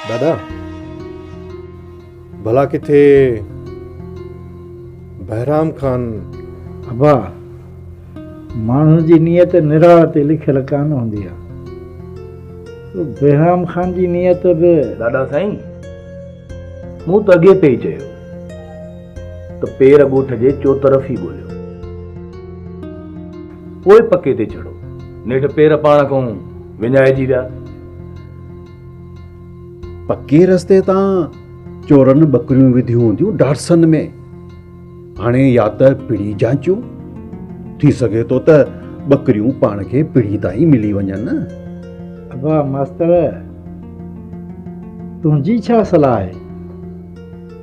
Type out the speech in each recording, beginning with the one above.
دادا ڀلا ڪٿي بهرام خان. ابا ماڻهو جي نيت نراڙ تي لکيل ڪانه هوندي آ. بهرام خان جي نيت به. دادا سائين مون ته اڳي پئي چيو ته پير ڳوٺ جي چوطرف ئي ڳوليو پوء پڪي تي چڙهو. نيٺ پير پاڻ کان وڃائجي ويا. پڪي رستي تان چورن ٻڪريون وڌيون هونديون ڊارسن ۾ هاڻي يا ته پڙي جانچون ٿي سگهي ٿو ته ٻڪريون پاڻ کي پڙي تائين ملي وڃن ابا ماستر تنهنجي ڇا صلاح آهي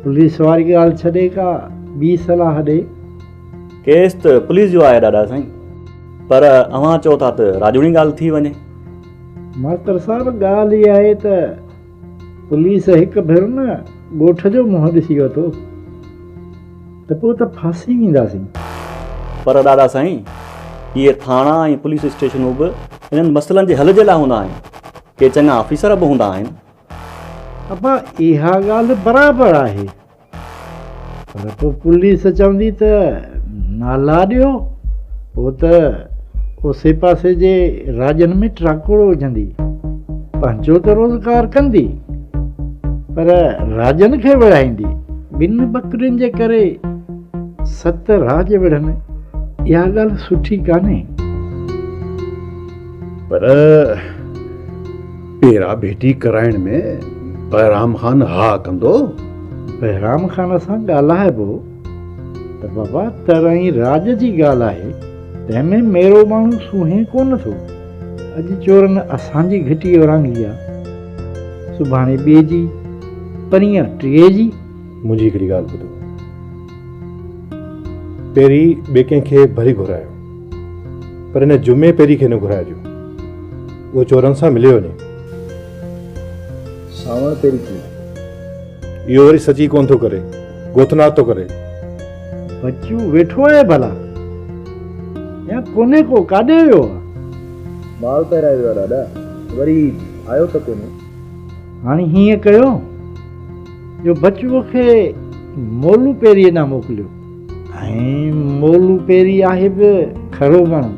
پوليس واري ڳالهه ڇڏي ڪا ٻي صلاح ڏي ڪيس ته پوليس جو آهي ڏاڏا سائين پر اوهان چئو ٿا ته راڄوڻي ڳالهه ٿي وڃي ماستر صاحب ڳالهه هي آهي ته پوليس هڪ ڀيرو نه ڳوٺ جو منهن ڏسي ورتو ته پوء ته ڦاسي وينداسين. پر ڏاڏا سائين اهي ٿاڻا ۽ پوليس اسٽيشنون به انهن مسئلن جي حل جي لاء هوندا آهن. ڪي چڱا آفيسر به هوندا آهن. ابا اها ڳالهه برابر آهي. پر پوء پوليس چوندي ته نالا ڏيو، پوء ته اوسي پاسي جي راڄن ۾ ٽراڪوڙ وجهندي، پنهنجو ته روزگار ڪندي، پر راڄن کي وڙهائيندي. ٻن ٻڪرين جي ڪري ست راڄ وڙهن، اها ڳالهه سٺي ڪانهي. پر پيرا ڀيٽي ڪرائڻ ۾ بهرام خان ها ڪندو؟ بهرام خان سان ڳالهائبو ته بابا ترائين راڄ جي ڳالهه آهي، تنهن ۾ ميرو ماڻهو سونهين ڪونه ٿو. اڄ چورن اسان جي گهٽي اورانگهي آ، سڀاڻي ٻئي جي، پرينهن ٽئي جي. منهنجي هڪڙي ڳالهه ٻڌو، پيري ٻئي ڪنهن کي ڀلي گهرايو، پر هن جمعي پيري کي نه گهرائجو. اهو چورن سان ملي وڃي. ساوڻ تيري ٿي. اهو وري سچ ئي ڪونه ٿو ڪري، گوتنات ٿو ڪري. بچو ويٺو آهي ڀلا يا ڪونهي ڪو ڪاڏي ويو آهي؟ ٻال پهرائي ويو آهي ڏاڏا، وري آيو ته ڪونهي. هاڻي هيئن ڪيو جو بچوء کي مولو پيريء ڏانهن موڪليو. ۽ مولو پيري آهي به کهڙو ماڻهو،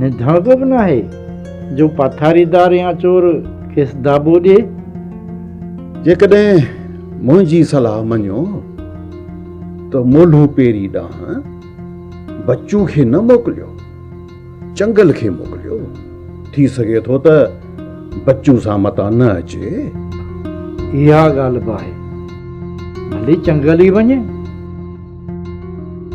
نڌاڳو به ناهي جو پاٿاريدار يا چور کيس داٻو ڏئي. جيڪڏهن منهنجي صلاح مڃو ته مولو پيري ڏانهن بچو کي نه موڪليو. چنگل کي موڪليو ٿي سگهي ٿو ته بچو سان متان نه اچي. اها ڳالهه به آهي ڀلي چنگل ئي وڃي.